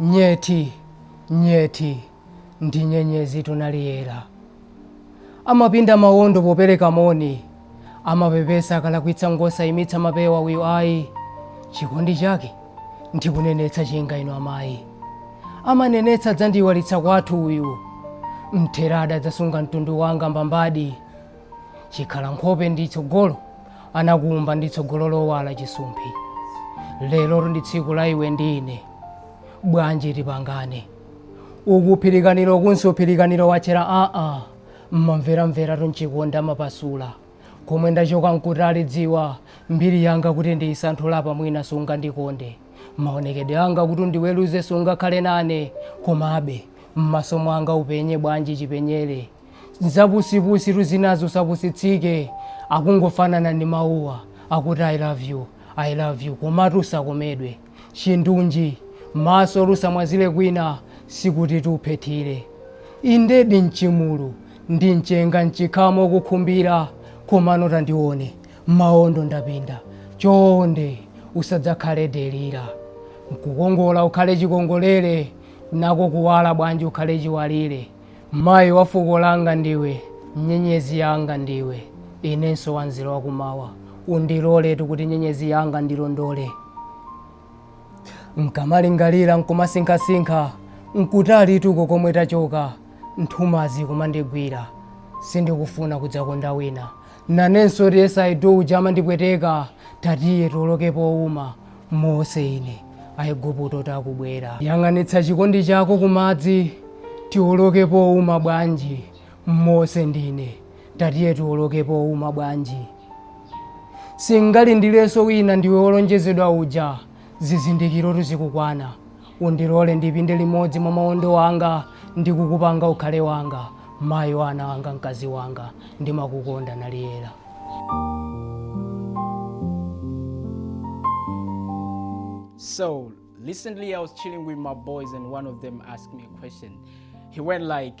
Nyethi, nyethi, ndi nyenyezitu Naliyera. Amapinda mawondo popereka moni, amapepesa akalakwitsa ngosaimitsa mapewa uyu ayi. Chikondi chake ndikunenetsa chinga inu amayi. Amanenetsa adzandiiwalitsa kwathu uyu. Mtheradi adzasunga mtundu wanga mbambadi. chikhala nkhope ndi tsogolo anakuumba ndi tsogolo lowala chisumphi lerotu ndi tsiku la iwe ndi ine bwanji tipangane uku phirikaniro ukunso phirikaniro watchera aa mamveramveratu nchikondi amapasula komwe ndachoka nkutali dziwa mbiri yanga kuti ndiyisanthule apa mwina sungandikonde maonekedwe anga kuti undiweruze sungakhale nane komabe m'maso mwanga upenye bwanji chipenyere nzapusipusitu zinazo usapusitsike akungofanana ndi mawuwa akuti i love you i love you komatu usakomedwe chindunji masotu usamwazire kwina sikutitu uphethire indedi mchimulu ndi mchenga mchikhamu ukukhumbira komano tandione maondo ndapinda chonde usadzakhale delila nkukongola ukhale chikongolere nako kuwala bwanji ukhale chiwalire Mayi wa fuko langa ndiwe, nyenyezi yanga ndiwe, inenso wanzeru wakum'mawa. Undiloletu kuti nyenyezi yanga ndilondole. Nkamalingalira nkumasinkhasinkha, nkutalitu uko komwe tachoka, nthumazi kumandigwira. Sindikufuna kudzakonda wina. Nanensotu yes I do uja amandipweteka, tatiye tioloke powuma. Mose, ine. Aiguptotu akubwera. Yang'anitsa chikondi chako kumadzi, tioloke pouma bwanji. Mose, ndine. Tatiye tioloke pouma bwanji. Singalindirenso wina ndiwe wolonjezedwa uja, zizindikirotu zikukwana. Undilole ndipinde limodzi mwa mawondo anga ndi kukupanga ukhale wanga, mayi wa ana anga, mkazi wanga, ndimakukonda, Naliyera. So recently I was chilling with my boys and one of them asked me a question. He went like,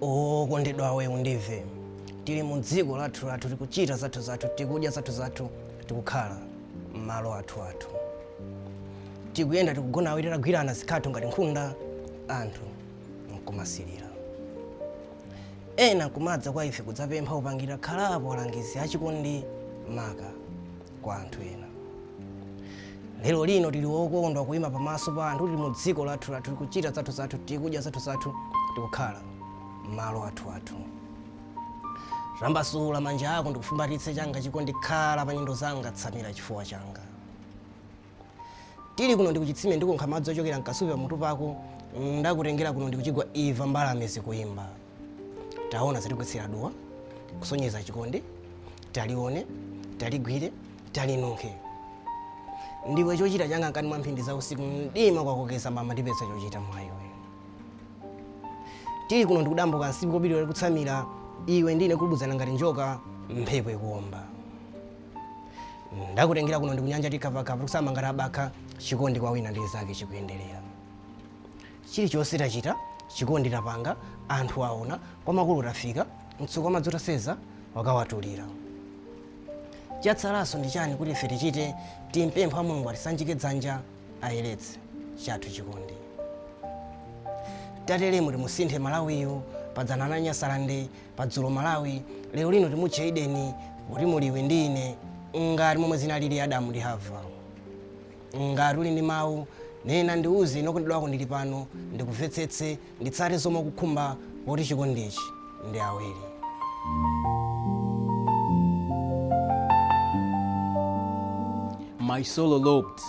Okondedwawe undimve tili mu dziko lathu lathu tikuchita zathu zathu tikudya zathu zathu tikukhala m'malo athu athu tikuyenda tikugona awiri tagwirana zikhatho ngati nkhunda anthu nkumasilira ena nkumadza kwa ife kudzapempha upangira khalapo alangizi achikondi maka kwa anthu ena lero lino tili wokondwa kuyima pamaso pa anthu tili mu dziko lathu lathu tikuchita zathu zathu tikudya zathu zathu tikukhala m'malo athu athu tambasula manja ako ndikufumbatitse changa chikondi khala pa nyendo zanga tsamira chifuwa changa Tili kuno ndi kuchitsime ndikukha madzi ochokera m'kasupe pamutu pako, ndakutengera kuno ndi kuchigwa imva mbalame zikuimba. Taona zatigwetsera duwa, kusonyeza chikondi, talione, taligwire, talinunkhe. Ndiwe chochita changa mkati mwa mphindi za usiku, mdima kwakokeza mama ndipeza chochita mwa iwe. Tili kuno ndi kudambo kumsipu wobiriwira ndikutsamira, iwe ndi ine kugubuduzana ngati njoka, mphepo ikuomba. ndakutengera kuno ndi kunyanja tikhavakhava tikusamba ngati abakha chikondi kwa wina ndi mnzake chikuyenderera chilichonse tachita chikondi tapanga anthu aona kwa makulu tafika mtsuko wa madzi utaseza wakawatulira chatsalanso ndi chani kuti ife tichite timpempha mulungu atisanjike dzanja ayeretse chathu chikondi tateremu timusinthe malawiyu padzana Nyasalande padzulo malawi lero lino timutche edeni poti muli iwe ndi ine ngati momwe zinalili adamu ndi hava ngati uli ndi mawu nena ndiuze ine wokondedwa wako ndili pano ndikumvetsetse nditsate zomwe ukukhumba poti chikondichi ndi awiri My soul eloped.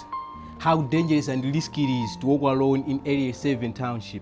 How dangerous and risky it is to walk alone in Area 7 Township.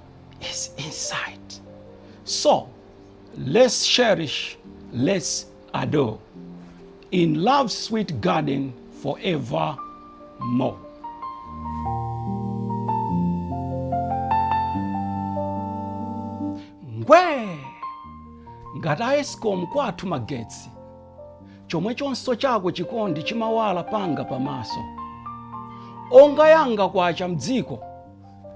is inside. So let's cherish, let's adore in love's sweet garden forevermore. Ngwee ngati a escom kwathu magetsi chomwe chonso chako chikondi chimawala panga pamaso onga yanga kwacha mdziko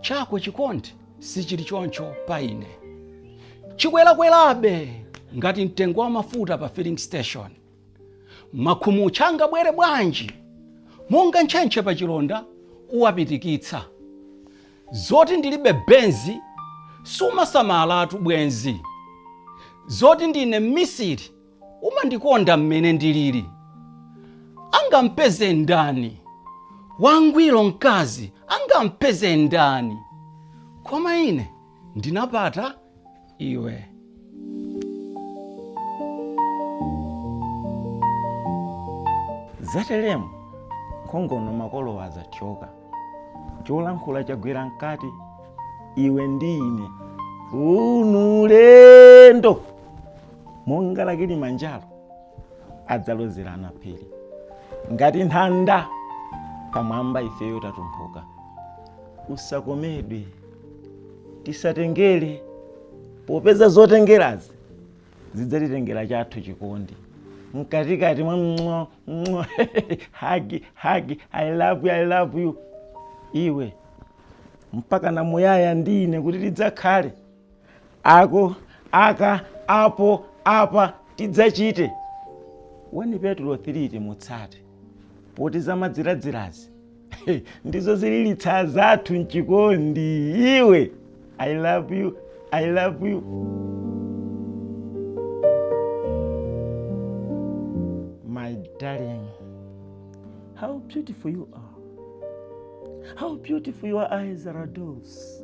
chako chikondi sichili choncho pa ine chikwerakwerabe ngati mtengo wa mafuta pa filling station makhumutcha angabwere bwanji monga ntchentche pa chilonda uwapitikitsa zoti ndilibe benzi sumasamalatu bwenzi zoti ndine mmisiri umandikonda mmene ndilili angampeze ndani wangwiro mkazi angampeze ndani koma ine ndinapata iwe zateremu khongono makolo azathyoka cholankhula chagwera mkati iwe ndi ine uno ulendo monga la Kilimanjaro adzalozerana phiri ngati nthanda pamwamba ifeyo tatumphuka usakomedwe tisatengere popeza zotengerazi zidzatitengera chathu chikondi mkatikati mwa mng'o mng'o hagi hagi i love you i love you iwe mpaka na muyaya ndi ine kuti tidzakhale ako aka apo apa tidzachite 1 Petulo 3 timutsate poti zamadziradzirazi ndizo zililitsa zathu mchikondi iwe i love you i love you my darling how beautiful you are how beautiful your eyes are doves